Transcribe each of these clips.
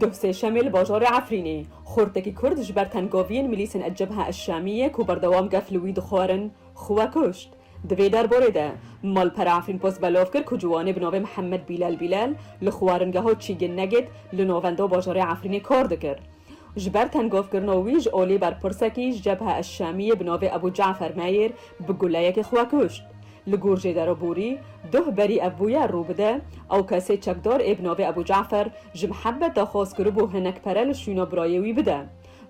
Duh sêşemê li bajarê Efrînê xortekî Kurd ji ber tengaviyên milîsên El-Cebha El-Şamiyê ku berdewam gef li wî dixwarin, xwe kuşt. Di vê derbarê de malpera Efrînpost belav kir ku ciwanê bi navê Mihemed Bîlal Bîlal li xwaringeha Çîgin Negêt li navenda bajarê Efrînê kar dikir. Ji ber tengavkirina wî ji aliyê berpirsekî ji Cebha El-Şamiyê bi navê Ebû Cafer Meyêr bi guleyekê xwe kuşt. Li gor Jêdero Borî, doh berî ev bûyer rû bide, ew kesê çekdar ê bi navê Ebû Cafer ji Mihebet daxwaz kiribû hinek pere li şûna birayê wî bide,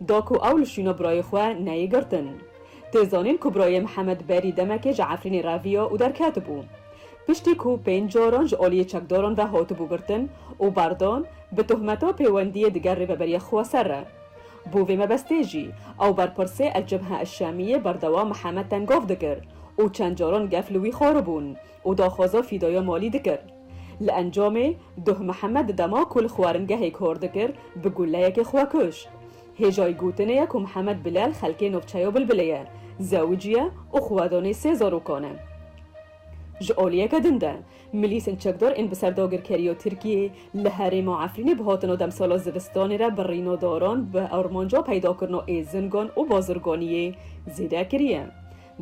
da ku ew li şûna birayê xwe neyê girtin. Tê zanîn ku birayê Mihemed berî demekê ji Efrînê reviya û derketibû. Piştî ku pênc caran ji aliyê çekdaran ve hatibû girtin û berdan, bi tohmeta pêwendiyê digel rêveberiya Xweser re. Bo vê mebestê jî ew berpirsê El-Cebha El-Şamiyê berdewam Mihemed Tengov dikir û çend caran gef li wî xwaribûn û daxwaza fîdaya malî dikir. Li encamê Duh Mihemed di dema ku li xwaringehê kar dikir bi guleyekê xwe kuşt. Hêjayî gotinê ye ku Mihemed Bilal xelkê navçeya Bilbilê ye, zewicî ye û xwedonê sê zarokan e. Ji aliyeke din de Milîsên çekdar ên bi ser dagirkeriya Tirkiyê li herêma Efrînê bi hatina demsala zivistanê re birîna daran bi armanca peydakirina êzingan û bazirganiyê zêde kiriye.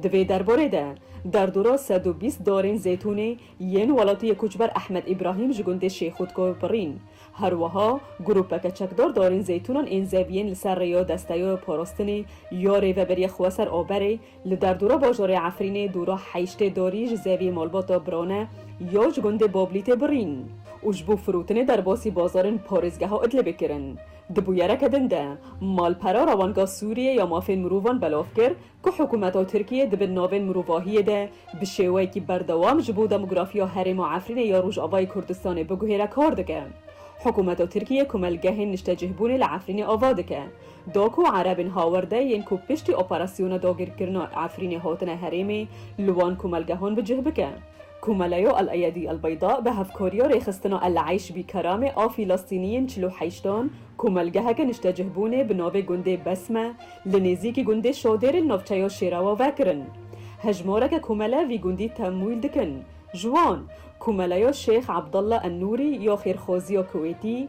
Di vê derbarê de derdora sed û bîst darên zêtûnê yên welatiyê koçber Ehmed Îbrahîm ji gundê Şêxûdko birîn. Her wiha grûpeke çekdar darên zêtûnan ên zeviyên li ser rêya desteya parastinê ya Rêveberiya Xweser Aberê, Li derdora bajorê Efrînê dû rah heyştê dorî ji zevî malbata birone ya ji gundê Boblîtê birîn û ji bo firotinê derbasî bazarên parêzgeha Idlibê kirin. Di bûyereke din de malpera Rawanga Sûriyê ya Mafên Mirovan belav kir ku hikûmeta Tirkiyê di bin navên mirovahiyê de bi şêweyekî berdewam ji bo demografiya herêma Efrînê ya Rojavayê Kurdistanê biguhêre kar dike. Hikûmeta Tirkiyê komelgehên niştecihbûnê li Efrînê ava dike. Do ku Erebên Hawerde yên ku piştî operasyona dagirkirina Efrînê hatine herêmê li wan komelgehan bi cih bike. Komeleya El-Eyedî El-Beyda bi hevkariya rêxistina El-Eyş Bî Kerame a Fîlastîniyên çil û heşt an komelgeheke niştecihbûnê bi navê gundê Besme li nêzîkî gundê Şadêrê li navçeya Şêrawa vekirin. Hejmareke komele vî gundî temwîl dikin. Ji wan, Komeleya Şêx Ebdalla En-Nûrî ya Xêrxwaziya Kuwêtî,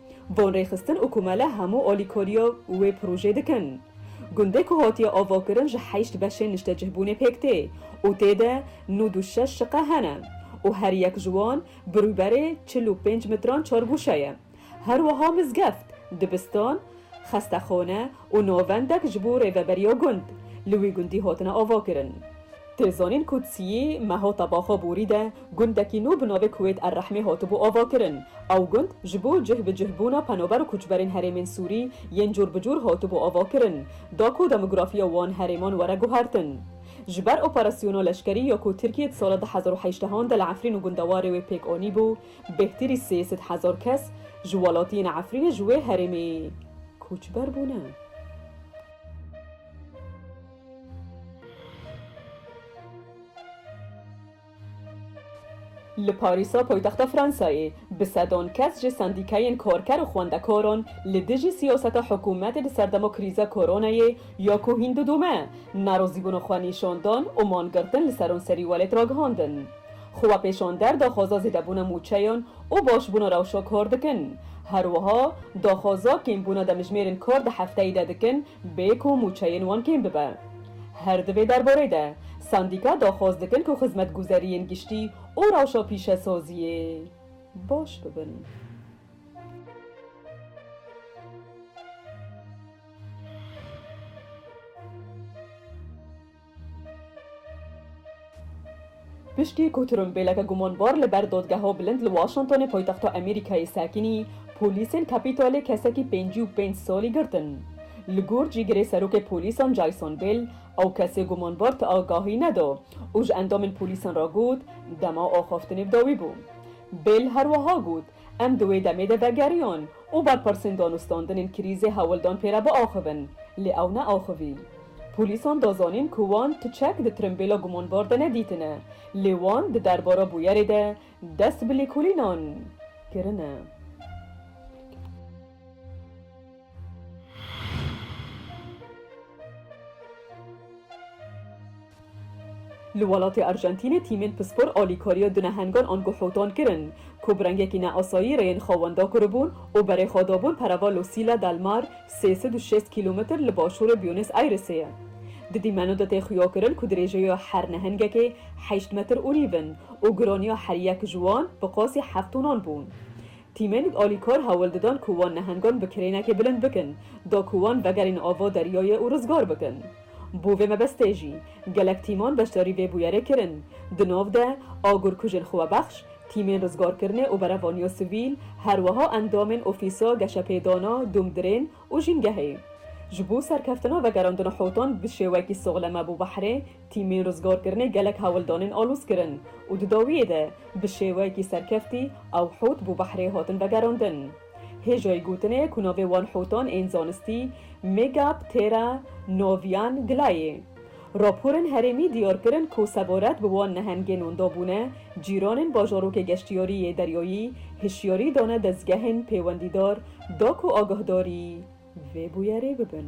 Van rêxistin û komele hemû alîkariya wê projeyê dikin. Gundê ku hatiye avakirin ji heşt beşên niştecihbûnê pêk tê û tê de nûd û şeş şiqe hene û her yek ji wan bi rûberê çil û pênc mitran çargûşe ye. Her wiha mizgeft, dibistan, xestexane, Û navendek ji bo rêveberiya gund, li wî gundî hatine avakirin. Tê zanîn ku Tsiyî mehata Baxa Borî de gundekî nû bi navê Kuwêt Er-Rehmê hatibû avakirin. Ew gund ji bo cih bi cih bûna penaber û koçberên herêmên Sûrî yên cor bi cor hatibû avakirin, da ku demografiya wan herêman were guhertin. Ji ber operasyona leşkerî ya ku Tirkiye di sala du hezar û heşt hean de li Efrîn û gundewarê wê pêk anîbû, Bêhtirî sê sed hezar kes ji welatiyên Efrînê ji wê herêmê koçber bûne. Li Parîsa paytexta Fransayê bi sedan kes ji sendîkeyên karker û xwendekaran li dijî siyaseta hikûmetê di ser dema krîza koronayê ya ku hîn didome, nerazîbûna xwe nîşandan û mangirtin li seranserî welêt ragihandin. Xwepêşander daxwaza zêdebûna mûçeyan û başbûna rewşa kar dikin. Her wiha daxwaza kêmbûna demjimêrên kar di hefteyê de dikin bê ku mûçeyên wan kêm bibe. Her di vê derbarê de sendîka daxwaz dikin ku xizmetguzeriyên giştî û rewşa pîşesaziyê baş bibin. Piştî ku tirûlbêleke gumanbar li ber Dadgeha Bilind li Washingtonê paytexta Amerîkayê sekinî, polîsên Capitolê kesekî pêncî û pênc salî girtin. Li gor cîgirê serokê polîsan Jason Bell, ew kesê gumanbar ti agahî neda û ji endamên polîsan re got, dema axaftinê bi dawî bû. Bell her wiha got, Em di wê demê de vegeriyon û berpirsên danûstandinên krîzê hewl dan pê re biaxivin, lê ew neaxivî. Polîsan da zanîn ku wan tu çek di tirimbêla gumanbar de nedîtine, lê wan di derbara bûyerê de dest bi lêkolînan kirine. Li welatê Arjentînê tîmên pispor alîkariya du nehengan an guhûtan kirin ku bi rengekî neasayî rêyên xwe wenda kiribûn û berê xwe dabûn perava Losîla del Mar sê sed û şêst kîlometr li başûrê Bûnês Ayresê ye. Di dîmeno de tê xuya kirin ku dirêjeya her nehengekê heşt metr û nîv in û giraniya her yek ji wan bi qasî heft tonan bûn. Tîmên alîkar hewl didan ku wan nehengan bi kirênekê bilind bikin, da ku wan vegerîn ava deryayê û rizgar bikin. Bo vê mebestê jî, gelek tîman beşdarî vê bûyerê kirin. Di nav de, agurkujên xwebexş, tîmên rizgarkirinê û berevaniya sivîl, her wiha endamên Ofîsa Geşepêdana, Dumdirên û jîngehê. Ji bo serkeftina vegerandina Hûtan bi şêwekî soxleme bo behrê tîmên rizgarkirinê gelek hewldanên alûz kirin û di dawiyê de bi şêwekî serkeftî ew Hût bo behrê hatin vegerandin. Hêjayî gotinê ku navê wan Hûtan ên zanistî Megaptera novian gla yê. Raporên herêmî diyar kirin ku Seboret bi wan nehengên wenda bûne, cîranên bajarokê geştyarî yê deryayî hişyarî dane dezgehên pêwendîdar da ku agahdarî vê bûyerê bibin.